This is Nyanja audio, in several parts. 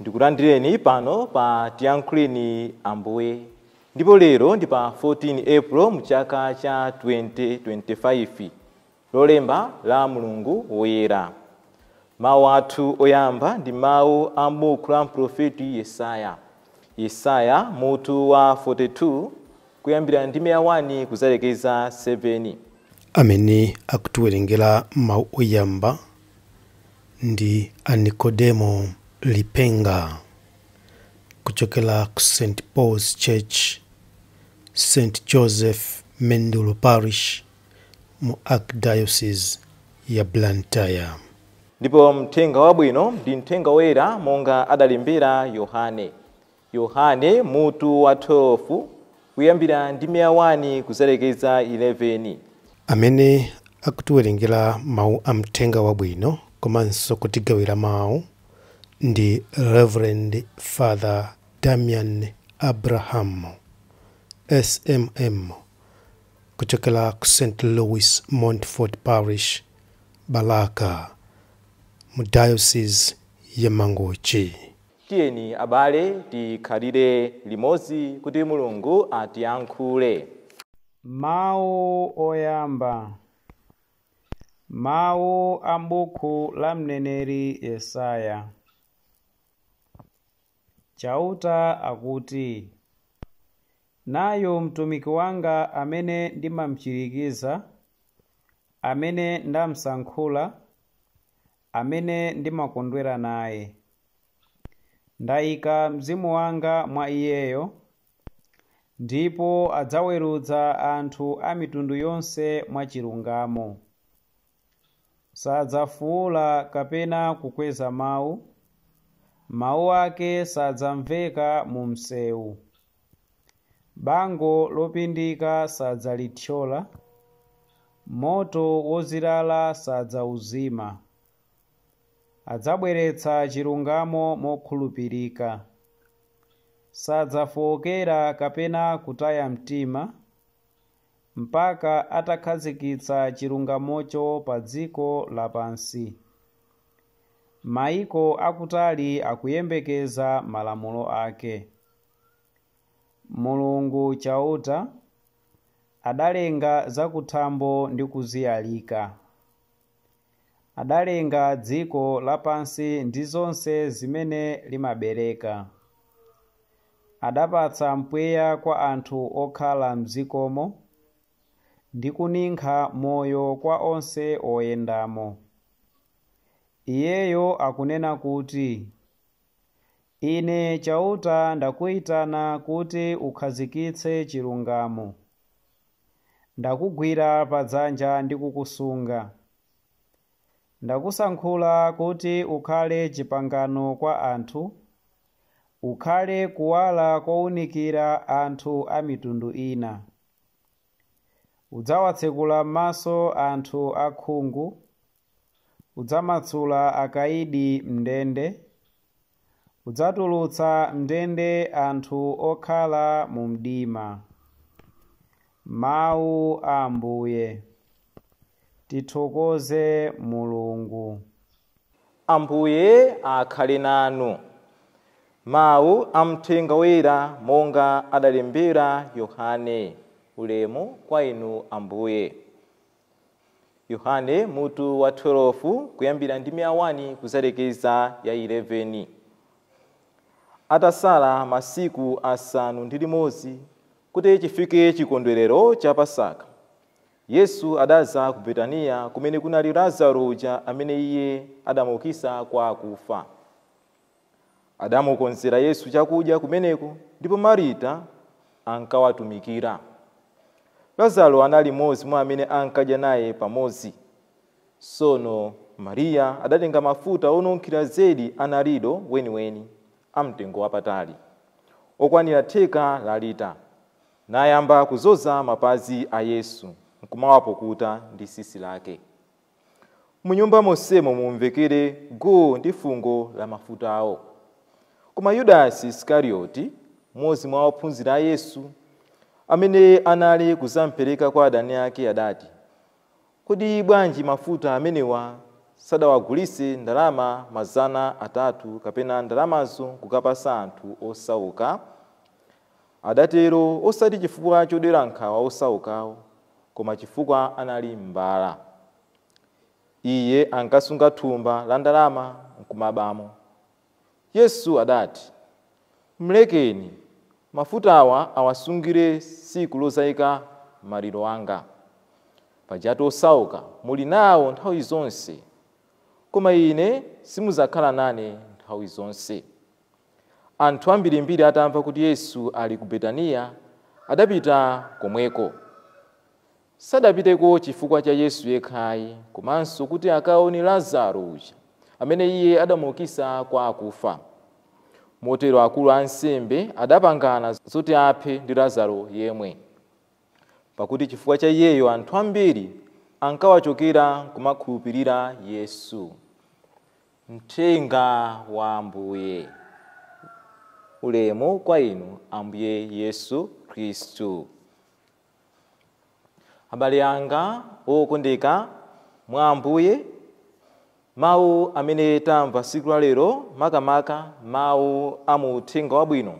Ndikulandireni pano pa Tiyankhuleni Ambuye. Ndipo lero ndi pa 14 April mu chaka cha 2025, lolemba la mulungu woyera. Mawu athu oyamba ndi mawu a m'buku la mprofeti Yesaya. Yesaya mutu wa 42 kuyambira ndime ya 1 kuzalekeza 7. Amene akutiwerengera mawu oyamba ndi a Nikodemo Lipenga kuchokera ku St Paul's Church, St Joseph Mendulo Parish mu Archdiocese ya Blantyre. Ndipo mthenga wabwino ndi mthenga woyera monga adalembera Yohane. Yohane, mutu wa 12, kuyambira ndime ya 1 kuzalekeza 11. Amene akutiwerengera mawu a Mthenga Wabwino komanso kutigawira mawu ndi Reverend Father Damian Abraham, SMM, kuchokera ku St. Louis Montfort Parish, Balaka, mu Diocese ya Mangochi. Tiyeni abale tikhalire limodzi kuti Mulungu atiyankhule. Mawu oyamba. Mawu a m'buku la mneneri Yesaya. Chauta akuti, Nayu mtumiki wanga amene ndimamchirikiza, amene ndamsankhula, amene ndimakondwera naye. Ndaika mzimu wanga mwa iyeyo, ndipo adzawerudza anthu a mitundu yonse mwachilungamo. Sadzafuula kapena kukweza mawu, mawu ake sadzamveka mu msewu. Bango lopindika sadzalithyola, moto wozilala sadzauzima. Adzabweretsa chilungamo mokhulupirika. Sadzafookera kapena kutaya mtima mpaka atakhazikitsa chilungamocho pa dziko lapansi. Maiko akutali akuyembekeza malamulo ake. Mulungu Chauta adalenga zakuthambo ndi kuziyalika. adalenga dziko lapansi ndi zonse zimene limabereka. Adapatsa mpweya kwa anthu okhala m'dzikomo, ndi kuninkha moyo kwa onse oyendamo. Iyeyo akunena kuti. Ine Chauta ndakuitana kuti ukhazikitse chilungamo. Ndakugwira padzanja ndi kukusunga. Ndakusankhula kuti ukhale chipangano kwa anthu, ukhale kuwala kounikira anthu a mitundu ina. Udzawatsekula m'maso anthu akhungu, Udzamatsula akaidi m'ndende. Udzatulutsa m'ndende anthu okhala mu mdima. Mawu a Ambuye. Tithokoze Mulungu. Ambuye akhale nanu. Mawu a Mthenga Woyera monga adalembera Yohane. Ulemu kwa Inu Ambuye. Yohane, mutu wa 12, kuyambira ndime ya 1 kudzalekeza ya 11. Atasala masiku asanu ndi limodzi kuti chifike chikondwerero cha Pasaka, Yesu adadza ku Betaniya kumene kunali Lazaro uja amene Iye adamuukitsa kwa akufa. Adamukonzera Yesu chakudya kumeneko ndipo Marita ankawatumikira. Lazaro anali mmodzi mwa amene ankadya naye pamodzi. Tsono Mariya adatenga mafuta onunkhira zedi a narido weniweni, amtengo wapatali, okwanira theka la lita, nayamba kudzoza mapazi a Yesu, nkumawapukuta ndi tsitsi lake. Mu nyumba monsemo mumvekere guu ndi fungo la mafutawo. Koma Yudasi Isikarioti, mmodzi mwa ophunzira a Yesu, amene anali kudzampereka kwa adani ake adati, Kodi bwanji mafuta amenewa sadawagulitse ndalama mazana atatu kapena ndalamazo kukapatsa anthu osauka? Adatero osati chifukwa chodera nkhawa osaukawo koma chifukwa anali mbala. Iye ankasunga thumba la ndalama n'kumabamo. Yesu adati, Mlekeni, mafutawa awasungire tsiku lodzaika maliro anga. Pajatu osauka muli nawo nthawi zonse, koma Ine simudzakhala nane nthawi zonse. Anthu ambirimbiri atamva kuti Yesu ali ku Betaniya, adapita komweko. Sadapiteko chifukwa cha Yesu yekhayi, komanso kuti akaone Lazaro uja, amene Iye adamuukitsa kwa akufa. Motero akulu a ansembe adapangana zoti aphe ndi Lazaro yemwe. Pakuti chifukwa cha iyeyo anthu ambiri ankawachokera kumakhulupirira Yesu. Mthenga wa Ambuye. Ulemu kwa Inu, Ambuye Yesu Kristu. Abale anga okondeka mwa Ambuye, mawu amene tamva tsiku la lero, makamaka mawu a mu Uthenga Wabwino,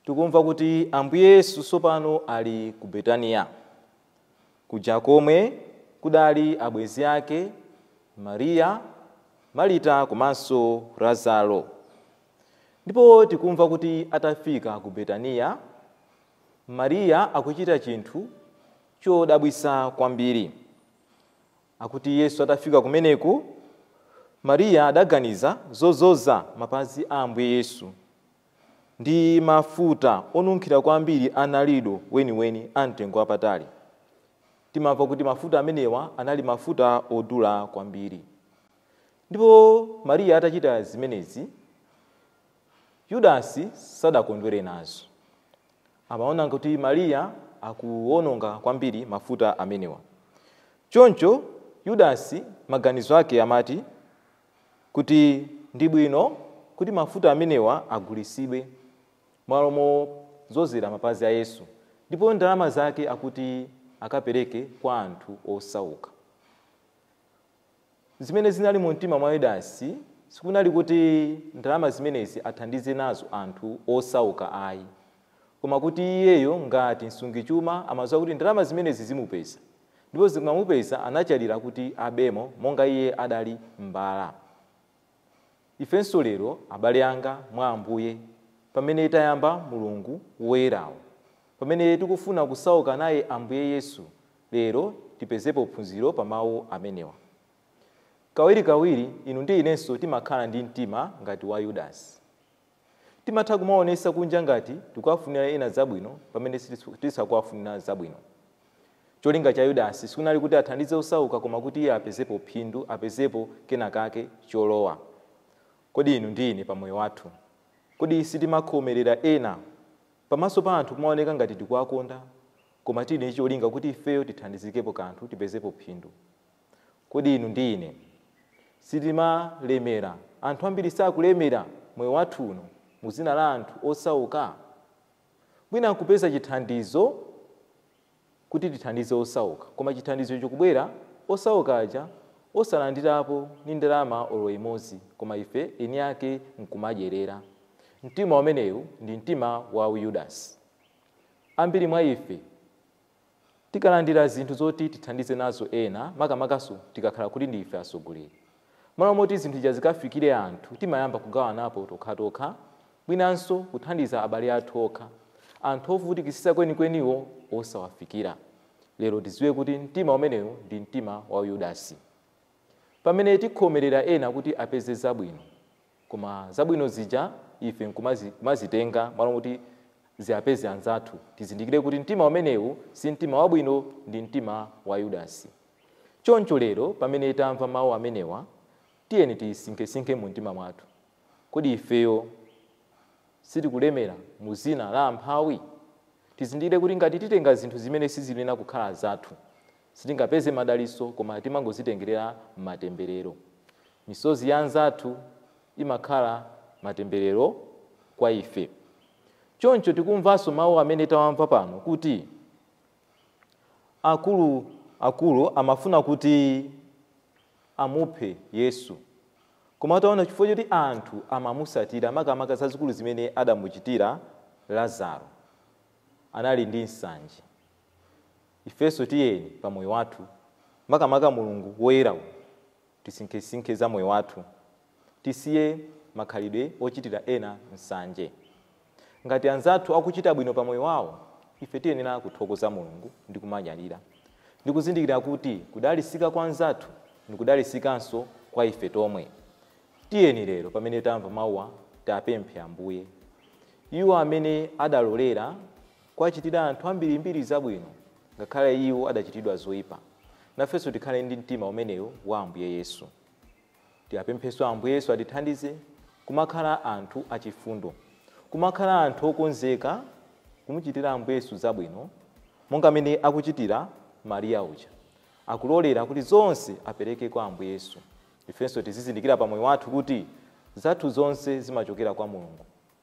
tikumva kuti Ambuye Yesu tsopano ali ku Betaniya. Kuja komwe kudali abwenzi ake Maria, Marita komanso Lazaro. Ndipo tikumva kuti atafika ku Betaniya, Maria akuchita chinthu chodabwitsa kwambiri. Akuti Yesu atafika kumeneko, Maria adaganiza zodzoza mapazi a Ambuye Yesu. ndi mafuta onunkhira kwambiri a nardo weniweni a mtengo wapatali. Timamva kuti mafuta amenewa anali mafuta odula kwambiri. Ndipo Mariya atachita zimenezi, Yudasi sadakondwere nazo. Amaona kuti Mariya akuwononga kwambiri mafuta amenewa. Choncho Yudasi maganizo ake amati, kuti ndi bwino kuti mafuta amenewa agulitsidwe m'malo modzozera mapazi a Yesu ndipo ndalama zake akuti akapereke kwa anthu osauka. Zimene zinali mumtima mwa Yudasi sikunali kuti ndalama zimenezi athandize nazo anthu osauka ayi, koma kuti iyeyo ngati msungichuma amadziwa kuti ndalama zimenezi zimupeza. ndipo zikamupeza anachalira kuti abemo monga iye adali mbala. Ifenso lero abale anga mwa Ambuye, pamene tayamba mulungu woyerawu, pamene tikufuna kusauka naye Ambuye Yesu lero tipezepo phunziro pa mau amenewa. Kawirikawiri inu ndi inenso timakhala ndi mtima ngati wa Yudasi. Timatha kumaonesa kunja ngati tikuwafunira ena zabwino pamene tisakuwafunira zabwino. Cholinga cha Yudasi sikunali kuti athandize osauka koma kuti iye apezepo phindu, apezepo kena kake, cholowa. Kodi inu ndi ine pa moyo wathu, kodi sitimakhomerera ena pamaso pa anthu kumaoneka ngati tikuwakonda koma tili ndi cholinga kuti ifeyo tithandizikepo kanthu, tipezepo phindu? Kodi inu ndi ine sitimalemera, anthu ambiri sakulemera moyo wathu uno mu dzina la anthu osauka? Mwina nkupeza chithandizo kuti tithandize osauka, koma chithandizo chikubwera osauka aja osalandirapo ni ndalama olo imodzi koma ife eni ake nkumadyerera. Mtima umenewu ndi mtima wa uYudasi. Ambiri mwa ife Tikalandira zinthu zoti tithandize nazo ena, makamakanso tikakhala kuti ndi ife atsogoleri, m'malo moti zinthu zija zikafikire anthu, timayamba kugawanapo tokhatokha, mwinanso kuthandiza abale athu okha, anthu ovutikitsitsa kwenikweniwo osawafikira. Lero tidziwe kuti mtima umenewu ndi mtima wa Yudasi. Pamene tikhomerera ena kuti apeze zabwino, Koma zabwino zija ife nkumazitenga malo moti ziwapeze anzathu. Tizindikire kuti mtima umenewu si mtima wabwino ndi mtima wa Yudasi. Choncho lero pamene tamva mau amenewa, tiyeni tisinkhesinkhe mu mtima mwathu. Kodi ifeyo sitikulemera mu dzina la amphawi? Tizindikire kuti ngati titenga zinthu zimene siziyenera kukhala zathu, sitingapeze madalitso koma timangozitengerera matemberero. Misozi ya anzathu imakhala matemberero kwa ife. Choncho tikumvanso mau amene tawamva pano kuti akulu akulu amafuna kuti. amuphe Yesu. Koma ataona chifukwa choti anthu amamutsatira, makamaka zazikulu zimene adamuchitira Lazaro, anali ndi nsanje. Ifenso tiyeni pa moyo wathu, makamaka mulungu woyera, tisinkhesinkhe za moyo wathu. Tisiye makhalidwe ochitira ena nsanje. Ngati anzathu akuchita bwino pa moyo wawo, ife tiyenera kuthokoza Mulungu ndi kumanyadira, ndi kuzindikira kuti kudalitsika kwa mnzathu ndi kudalitsikanso kwa ife tomwe. Tiyeni lero, pamene tamva mauwa, tiwapemphe Ambuye. Iwo amene adalolera kuwachitira anthu ambirimbiri zabwino, ngakhale iwo adachitidwa zoipa, nafenso tikhale ndi mtima umenewo wa Ambuye Yesu. Tiwapemphenso Ambuye Yesu atithandize kumakhala anthu achifundo, kumakhala anthu okonzeka kumuchitira Ambuye Yesu zabwino monga mmene akuchitira Maria uja, akulolera kuti zonse apereke kwa Ambuye Yesu. Ifenso tizizindikira pamoyo wathu kuti zathu zonse zimachokera kwa Mulungu.